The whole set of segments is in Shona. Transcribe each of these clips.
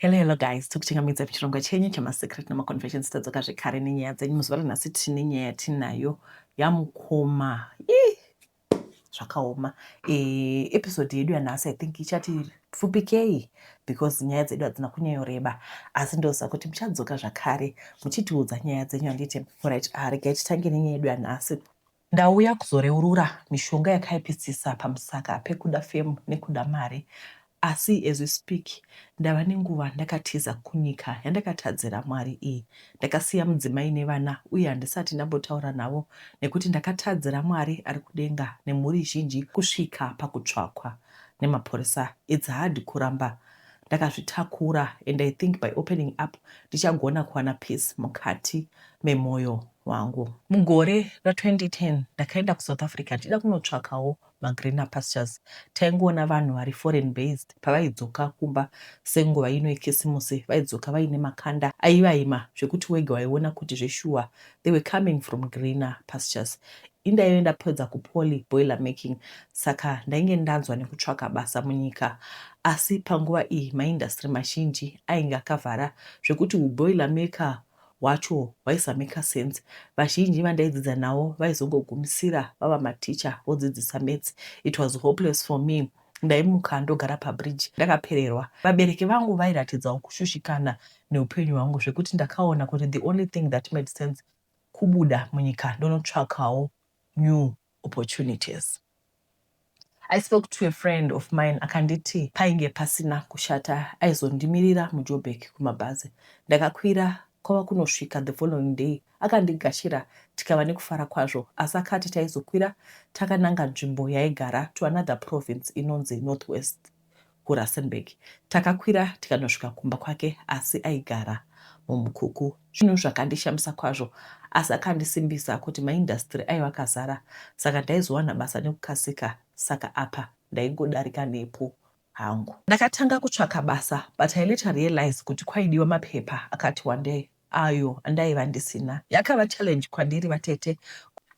Hello, hello guys, tokuchingamidza pichirongwa chenyu chemasecret nemaconfession sitadzoka zvekare nenyaya dzenyu muzuva ranhasi tine nyaya yatinayo yamukoma ii zvakaoma e, episode yedu yanhasi i think ichati pfupikei because nyaya dzedu hadzina kunyanyoreba asi ndoziva kuti muchadzoka zvakare muchitiudza nyaya dzenyu handiti right ah, regai titange nenyaya yedu yanhasi Ndauya kuzoreurura mishonga yakaipisisa pamusaka pekuda fame nekuda mari asi as we speak ndava nenguva ndakatiza kunyika yandakatadzira Mwari iyi. Ndakasiya mudzimai nevana uye handisati ndambotaura navo nekuti ndakatadzira Mwari ari kudenga nemhuri zhinji kusvika pakutsvakwa nemapurisa. It's hard kuramba ndakazvitakura and I think by opening up ndichagona kuwana peace mukati memoyo. wangu. Mugore ra 2010 ndakaenda ku South Africa ndichida kunotsvakawo ma greener pastures. Taingoona vanhu vari foreign based pavaidzoka kumba senguva ino yekisimusi vaidzoka vaine makanda aivaima zvekuti wega waiona kuti zveshuwa they were coming from greener pastures. Indaive ndapedza ku poly boiler making saka ndainge ndanzwa nekutsvaka basa munyika asi panguva iyi ma industry mazhinji ainge akavhara zvekuti hu boiler maker hwacho hwaisa maker sense. Vazhinji vandaidzidza navo vaizongogumisira vava mateacher vodzidzisa maths. It was hopeless for me. Ndaimuka ndogara pabridge ndakapererwa. Vabereki vangu vairatidzawo kushushikana neupenyu hwangu zvekuti ndakaona kuti the only thing that made sense kubuda munyika ndonotsvakawo new opportunities. I spoke to a friend of mine akanditi painge pasina kushata aizondimirira muJoburg kumabhazi. Ndakakwira kwava kunosvika the following day akandigashira tikava nekufara kwazvo asi akati taizokwira takananga nzvimbo yaigara to another province inonzi Northwest. kuRustenburg. Takakwira tikanosvika kumba kwake asi aigara muMukuku. Zvinhu zvakandishamisa kwazvo asi akandisimbisa kuti maindasitiri aiva akazara saka ndaizowana basa nekukasika saka apa ndaingodarika nepo hangu. Ndakatanga kutsvaka basa but I later realized kuti kwaidiwa mapepa akati wandei. ayo andaiva ndisina. Yakava challenge kwandiri vatete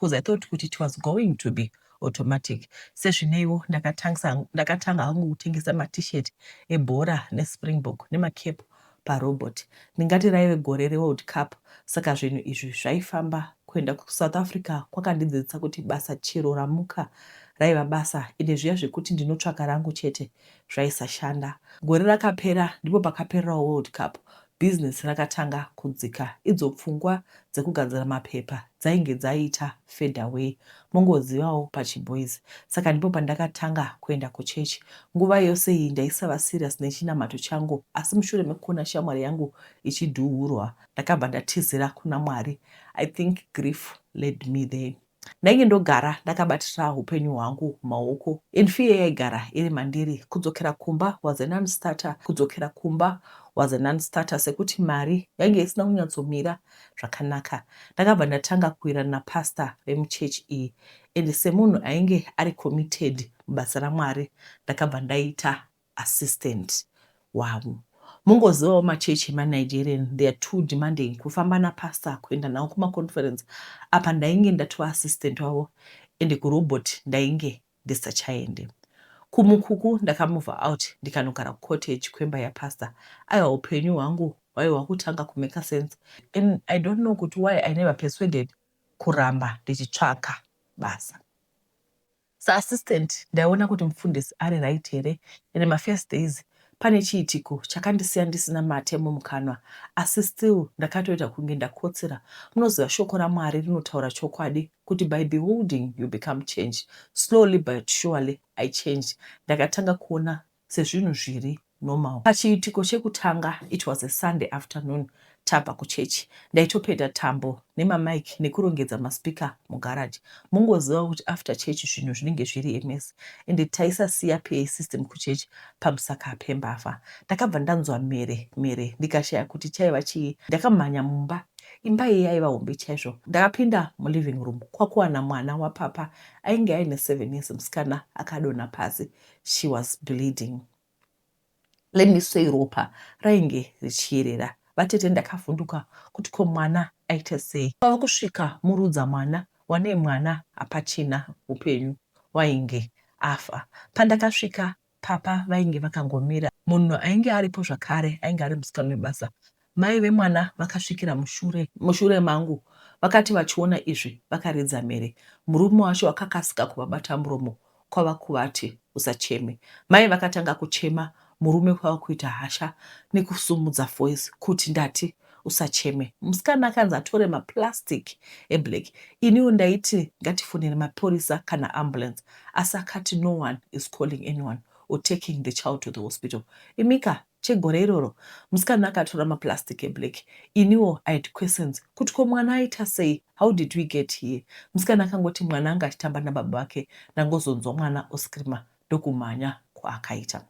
coz I thought kuti it was going to be automatic sezvineiwo ndakatanga hangu kutengesa maT-shirt ebhora neSpringbok nemaCap parobot. Ndingati raive gore reWorld Cup saka zvinhu izvi zvaifamba. Kuenda kuSouth Africa kwakandidzidzisa kuti basa chero ramuka raiva basa ende zviya zvekuti ndinotsvaka rangu chete zvaisashanda. Gore rakapera ndipo pakapererawo World Cup Bhizinesi rakatanga kudzika idzo pfungwa dzekugadzira mapepa dzainge dzaita fade away mongozivawo pachiboys saka ndipo pandakatanga kuenda kuchechi. Nguva yose iyi ndaisava serious nechinamato changu asi mushure mekuona shamwari yangu ichidhuurwa ndakabva ndatizira kuna Mwari. I think grief led me there. Ndainge ndogara ndakabatira hupenyu hwangu maoko and fear yaigara iri mandiri. Kudzokera kumba was a non starter, kudzokera kumba was a non starter sekuti mari yainge isina kunyatsomira zvakanaka. Ndakabva ndatanga kuwirirana napastor vemuchurch iyi and semunhu ainge ari committed mubasa raMwari ndakabva ndaita assistant wavo. Mongozivawo machurch ema Nigerian they are too demanding kufamba na pastor kuenda navo kuma conference apa ndainge ndatova assistant wavo ende ku robot ndainge ndisachaende. KuMukuku ndaka mover out ndikanogara ku cottage kwemba ya pastor aiwa hupenyu hwangu hwaiwa kutanga ku maker sense and I don't know kuti why I never persuaded kuramba ndichitsvaka basa. Sa assistant ndaiona kuti mufundisi ari right here and ma first days pane chiitiko chakandisiya ndisina mate mumukanwa asi still ndakatoita kunge ndakotsira. Munoziva shoko raMwari rinotaura chokwadi kuti by beholding you become changed. Slowly but surely I changed. Ndakatanga kuona sezvinhu zviri normal. Pachiitiko chekutanga it was a Sunday afternoon tabva kuchurch ndaitopeta tambo nema mic nekurongedza ma speaker mu garage. Mongoziva kuti after church zvinhu zvinenge zviri a mess ende taisasiya PA system kuchurch pamusaka pembavha. Ndakabva ndanzwa mhere mhere ndikashaya kuti chaiva chii. Ndakamhanya mumba imba iyi yaiva hombe chaizvo. Ndakapinda mu living room kwakuwana mwana wa papa ainge aine seven years musikana akadonha pasi she was bleeding let me say ropa rainge richiyerera vatete ndakavhunduka kuti ko mwana aita sei kwava kusvika murudza mwana wane mwana hapachina upenyu wainge afa pandakasvika papa vainge vakangomira munhu ainge aripo zvakare ainge ari musikana webasa Mai vemwana vakasvikira mushure mushure mangu vakati vachiona izvi vakaridza mhere. Murume wacho akakasika kuvabata muromo kwava kuvati, Usacheme. Mai vakatanga kuchema murume kwava kuita hasha nekusumudza voice kuti, Ndati usacheme. Musikana akanzi atore maplastic eblack. Iniwo ndaiti ngatifonere mapurisa kana ambulance asi akati no one is calling anyone or taking the child to the hospital. Imika chegore iroro musikana akatora maplastic eblack iniwo I had questions kuti ko mwana aita sei how did we get here musikana akangoti mwana anga achitamba nababa vake ndangozonzwa mwana oscreamer ndokumhanya kwaakaita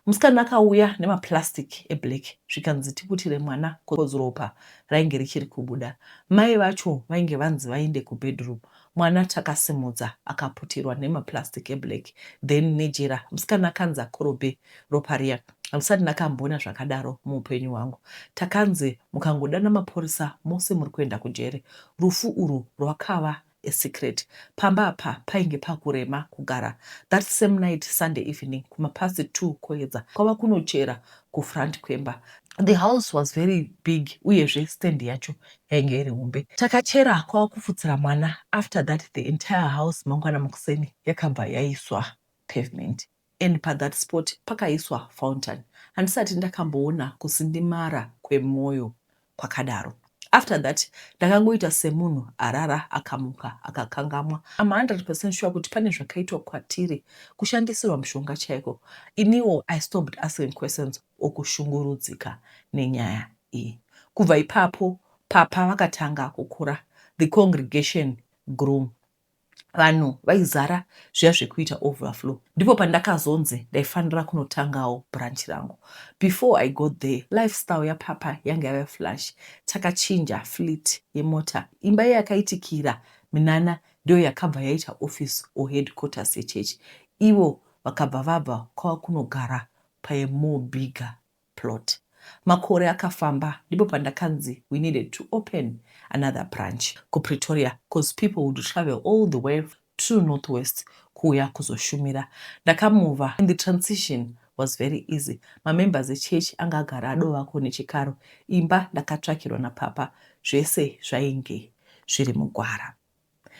musikana akauya nemaplastic eblack zvikanzi tiputire mwana coz ropa rainge richiri kubuda mai vacho vainge vanzi vaende kubedroom Mwana takasimudza akaputirwa nema plastic e black then nejira. Musikana akanzi akorobhe ropa riya handisati ndakamboona zvakadaro muupenyu hwangu. Takanzi mukangodana maporisa mose muri kuenda kujeri. Rufu urwu rwakava a secret. Pamba apa painge pakurema kugara. That same night Sunday evening kuma past two koedza kwava kunochera kufront kwemba. The house was very big uyezve stand yacho yainge iri hombe. Takachera kwava kufutsira mwana after that the entire house mangwana makuseni yakabva yaiswa pavement and pathat spot pakaiswa fountain. Handisati ndakamboona kusindimara kwemoyo kwakadaro. After that ndakangoita semunhu arara akamuka akakangamwa. I'm 100 percent sure kuti pane zvakaitwa kwatiri, kushandisirwa mushonga chaiko. Iniwo I stopped asking questions or kushungurudzika nenyaya I. Kubva ipapo Papa vakatanga kukura, the congregation grew, vanhu vaizara zviya zvekuita overflow. Ndipo pandakazonzi ndaifanira kunotangawo branch rangu. Before I got there, lifestyle yaPapa yanga yave flash. Takachinja fleet yemota, imba yeyakaitikira minana ndiyo yakabva yaita office or headquarters yechurch, ivo vakabva vabva kwava kunogara paye more bigger plot. Makore akafamba ndipo pandakanzi we needed to open another branch kuPretoria coz people would travel all the way to North West kuuya kuzoshumira. Ndakamover and the transition was very easy. Mamembers echurch anga agara adovako nechikaro. Imba ndakatsvakirwa napapa. Zvese zvainge zviri mugwara.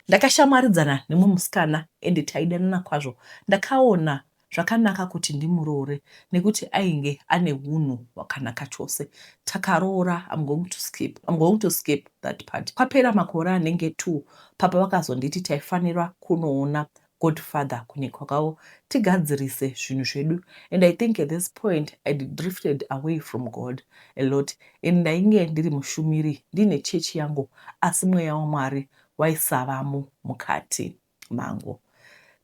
Ndakashamwaridzana nemumwe musikana ende taidanana kwazvo. Ndakaona zvakanaka kuti ndimuroore nekuti ainge ane hunhu hwakanaka chose. Takaroora I'm going to skip I'm going to skip that part. Kwapera makore anenge two papa vakazonditi taifanira kunoona God father kunyepa kwavo tigadzirise zvinhu zvedu and I think at this point I drifted away from God a lot and ndainge ndiri mushumiri ndiine chechi yangu asi mweya waMwari waisavamo mukati mangu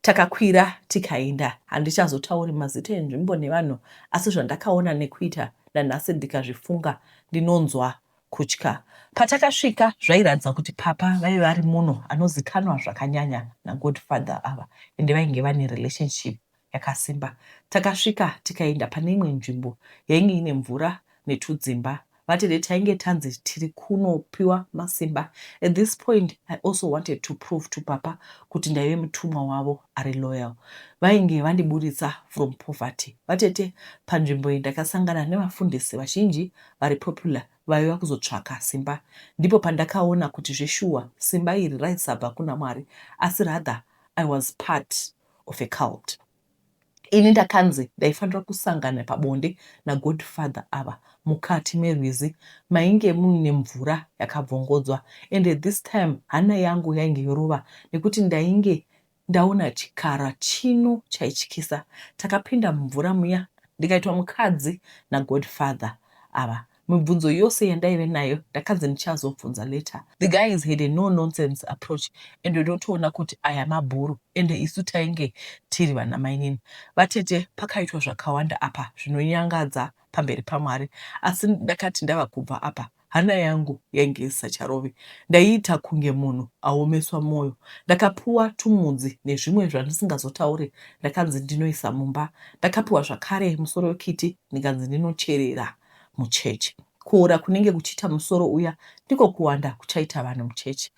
takakwira tikaenda handichazotauri mazita enzvimbo nevanhu asi zvandakaona nekuita nanhasi ndikazvifunga ndinonzwa Kutya. Patakasvika zvairatidza kuti papa vaive vari muno anozikanwa zvakanyanya nagodfather ava ende vainge vane relationship yakasimba. Takasvika tikaenda pane imwe nzvimbo yainge ine mvura netudzimba vatete tainge tanzi tiri kunopiwa masimba. At this point I also wanted to prove to papa kuti ndaive mutumwa wavo ari loyal. Vainge vandiburitsa from poverty vatete. Panzvimbo iyi ndakasangana nevafundisi vazhinji vari popular vaiva kuzotsvaka simba ndipo pandakaona kuti zveshuwa simba iri raisabva kuna Mwari asi rather I was part of a cult. Ini ndakanzi ndaifanira kusangana pabonde nagodfather ava mukati merwizi mainge muine mvura yakabvongodzwa and at this time hana yangu yainge yorova nekuti ndainge Ndaona chikara chino chaityisa takapinda mumvura muya ndikaitwa mukadzi nagodfather ava mibvunzo yose yandaive nayo ndakanzi ndichazobvunza later. The guys had a no nonsense approach ende ndotoona kuti aya mabhuru ende isu tainge tiri vana mainini vatete pakaitwa zvakawanda apa zvinonyangadza pamberi paMwari asi ndakati ndava kubva apa Hana yangu yainge isisacharove, ndaiita kunge munhu aomeswa moyo. Ndakapiwa tumudzi nezvimwe zvandisingazotaure ndakanzi ndinoisa mumba. Ndakapiwa zvakare musoro wekiti ndikanzi ndinocherera muchechi. Kuora kunenge kuchiita musoro uya ndiko kuwanda kuchaita vanhu muchechi.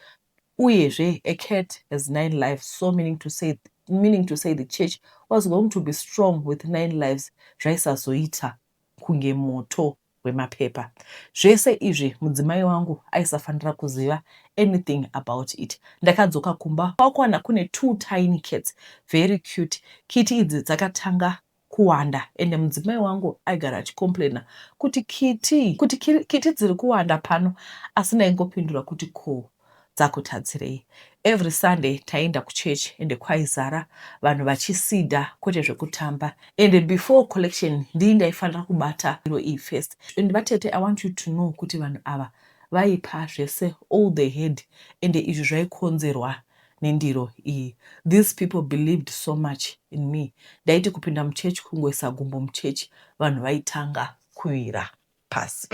Uyezve, a cat has nine lives so meaning to say meaning to say the church was going to be strong with nine lives zvaisazoita kunge moto hwemapepa. Zvese izvi mudzimai wangu aisafanira kuziva anything about it. Ndakadzoka kumba kwakuwana kune two tiny cats very cute. Kiti idzi dzakatanga kuwanda ende mudzimai wangu aigara achicomplaina kuti kiti, kuti kiti dziri kuwanda pano asi ndaingopindura kuti ko dzakutadzirei. Every Sunday taienda kuchurch ende kwaizara vanhu vachisida kwete zvekutamba ende before collection ndini ndaifanira kubata iro iyi first ende vatete I want you to know kuti vanhu ava vaipa zvese all they had ende izvi zvaikonzerwa nendiro iyi. These people believed so much in me ndaiti kupinda muchurch kungoisa gumbo muchurch vanhu vaitanga kuwira pasi.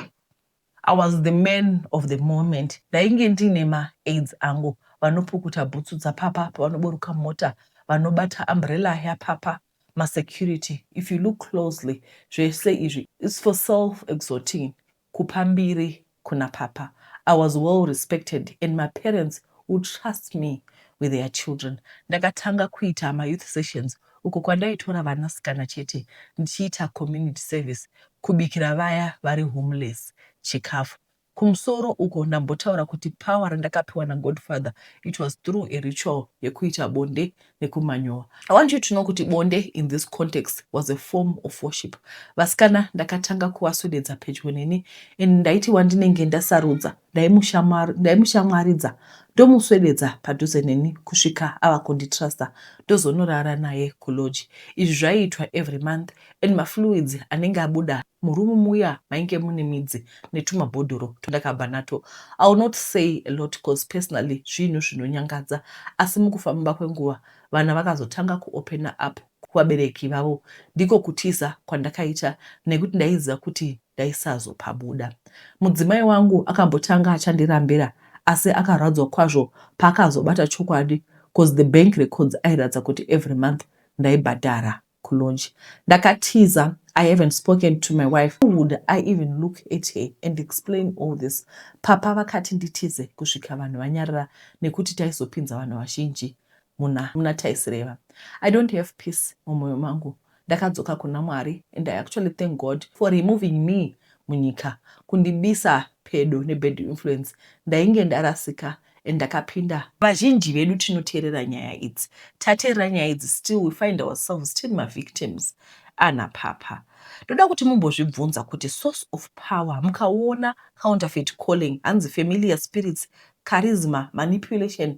I was the man of the moment ndainge ndiine ma aids angu vanopukuta bhutsu dzapapa pavanoburuka mota vanobata umbrella yapapa ma security if you look closely zvese izvi it's for self exhorting kupa mbiri kuna papa I was well respected and my parents would trust me with their children ndakatanga kuita ma youth sessions uko kwandaitora vanasikana chete ndichiita community service, kubikira vaya vari homeless chikafu. Kumusoro uko ndambotaura kuti power randakapiwa naGodfather it was through a ritual yekuita bonde nekumanyowa. I want you to know kuti bonde in this context was a form of worship. Vasikana ndakatanga kuvaswededza pedyo neni and ndaiti wandinenge ndasarudza ndaimushamwaridza ndomuswededza padhuze neni kusvika ava kunditrusta ndozonorara naye kulodge izvi zvaiitwa every month and mafluids anenge abuda murumu muya mainge mune midzi netumabhodhoro twandakabva nato iwill not say a lot cause personally zvinhu zvinonyangadza asi mukufamba kwenguva vana vakazotanga kuopena apo kuvabereki vavo ndiko kutiza kwandakaita nekuti ndaiziva kuti ndaisazopabuda. Mudzimai wangu akambotanga achandirambira asi akarwadzwa kwazvo paakazobata chokwadi cause the bank records airatidza kuti every month ndaibhadhara kulodge. Ndakatiza I haven't spoken to my wife. How would I even look at her and explain all this? Papa vakati nditize kusvika vanhu vanyarara nekuti taizopinza vanhu vazhinji. muna muna taisireva I don't have peace mumoyo mangu ndakadzoka kuna Mwari and I actually thank God for removing me munyika kundibisa pedo nebad influence ndainge ndarasika and ndakapinda vazhinji vedu tinoteerera nyaya idzi tateerera nyaya idzi still we find ourselves tiri mavictims ana papa ndoda kuti mumbozvibvunza kuti source of power mukaona counterfeit calling hanzi familiar spirits charisma manipulation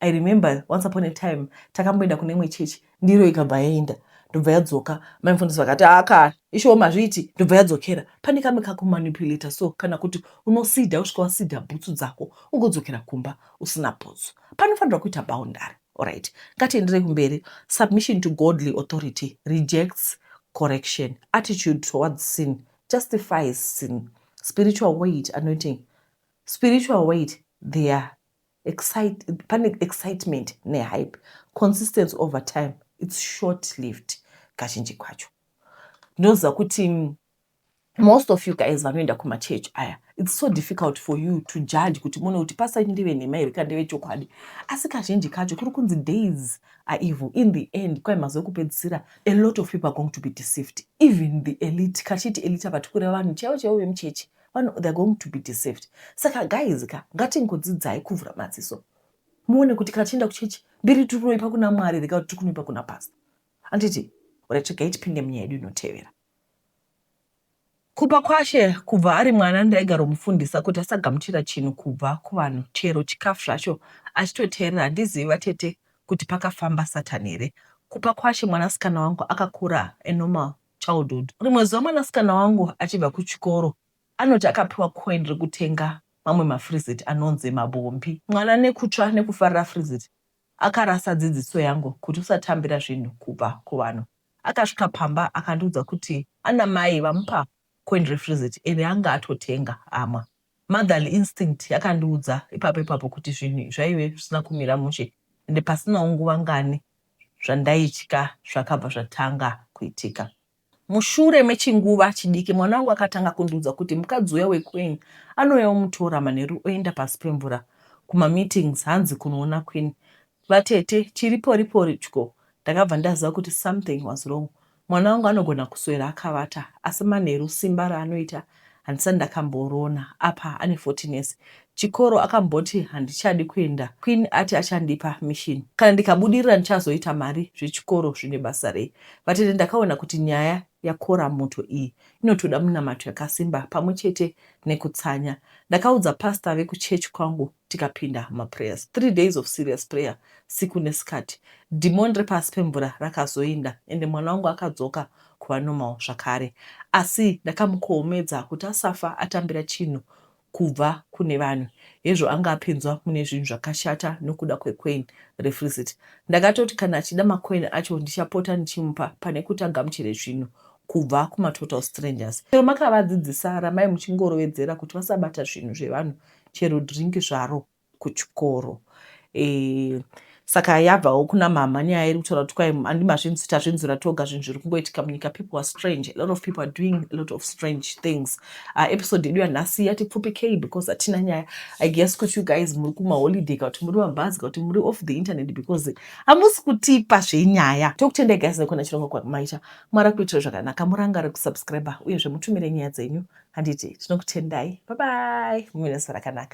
I remember once upon a time takamboenda kune imwe church ndiro ikabva yaenda ndobva yadzoka mai mufundisi vakati aka ah, ishowo mazviiti ndobva yadzokera pane kamwe kakumanipulata so kana kuti unosida usvika wasida bhutsu dzako ungodzokera kumba usina bhutsu panofanirwa kuita boundary orit ngatienderei kumberi submission to godly authority rejects correction attitude towards sin justifies sin spiritual weight anointing spiritual weight their Excite, pane excitement nehype consistency over time its short lived kazhinji kwacho ndinoziva kuti mm, most of you guys vanoenda kumachurch aya its so difficult for you to judge kuti mone kuti pasa ndive nhema here kana ndeve chokwadi asi kazhinji kacho kuri kunzi days are evil in the end kwai mazuva ekupedzisira a lot of people are going to be deceived even the elite kachiti elite apa tikureva vanhu chaivo chaivo vemuchechi vanhu they're going to be deceived saka guys ka ngatingodzidzai kuvhura madziso muone kuti kana tichienda kuchechi mbiri tiri kunoipa kuna mwari rega kuti tiri kunoipa kuna pasta handiti ratigai tipinde munyaya yedu inotevera kupa kwashe kubva ari mwana ndaigaromufundisa kuti asagamuchira chinhu kubva kuvanhu chero chikafu zvacho achitoteerera handizivi vatete kuti pakafamba satani here kupa kwashe mwanasikana wangu akakura anormal childhood. Rimwe zuva mwanasikana wangu achibva kuchikoro anoti akapiwa coin rekutenga mamwe mafrizit anonzi mabombi. Mwana nekutsva nekufarira frizit akarasa dzidziso yangu kuti usatambira zvinhu kubva kuvanhu. Akasvika pamba akandiudza kuti ana mai vamupa coin refrizit iri anga atotenga amwa. Motherly instinct yakandiudza ipapo ipapo kuti zvinhu zvaive zvisina kumira mushe ende pasinawo nguva ngani zvandaitya zvakabva zvatanga kuitika. Mushure mechinguva chidiki mwana wangu akatanga kundiudza kuti mukadzi uya weQueen anouya omutora manheru oenda pasi pemvura kumameetings hanzi kunoona Queen Vatete chiri pori pori tyo ndakabva ndaziva kuti something was wrong mwana wangu anogona kuswera akavata asi manheru simba raanoita handisati ndakamboriona apa ane 14 years chikoro akamboti handichadi kuenda Queen ati achandipa mission kana ndikabudirira ndichazoita mari zvechikoro zvine basa rei vatete ndakaona kuti nyaya yakora moto iyi inotoda munamato yakasimba pamwe chete nekutsanya ndakaudza pastor vekuchurch kwangu tikapinda mumaprayers three days of serious prayer siku nesikati dhimoni repasi pemvura rakazoinda ende mwana wangu akadzoka kuva normal zvakare asi ndakamukohomedza kuti asafa atambira chinhu kubva kune vanhu hezvo anga apinzwa mune zvinhu zvakashata nokuda kwecoin refrisit ndakatoti kana achida macoin acho ndichapota ndichimupa pane kuti agamuchire zvinhu kubva kumatotal strangers chero makavadzidzisa ramai muchingorovedzera kuti vasabata zvinhu zvevanhu chero drink zvaro kuchikoro eh, saka yabvawo kuna mama nyaya iri kutaura kuti kwai andi mazvinzi tazvinzwira toga zvinhu zviri kungoitika munyika people are strange a lot of people are doing a lot of strange things uh, episode yedu yanhasi yati pfupikei because hatina nyaya i guess kuti you guys muri kumaholiday ka kuti muri mabhazi ka kuti muri off the internet because hamusi kutipa zvenyaya tokutendai guys nekona chirongwa kwamaita Mwari akuitira zvakanaka murangare kusubscriber uyezve mutumire nyaya dzenyu handiti tinokutendai bye bye muve nezuva rakanaka.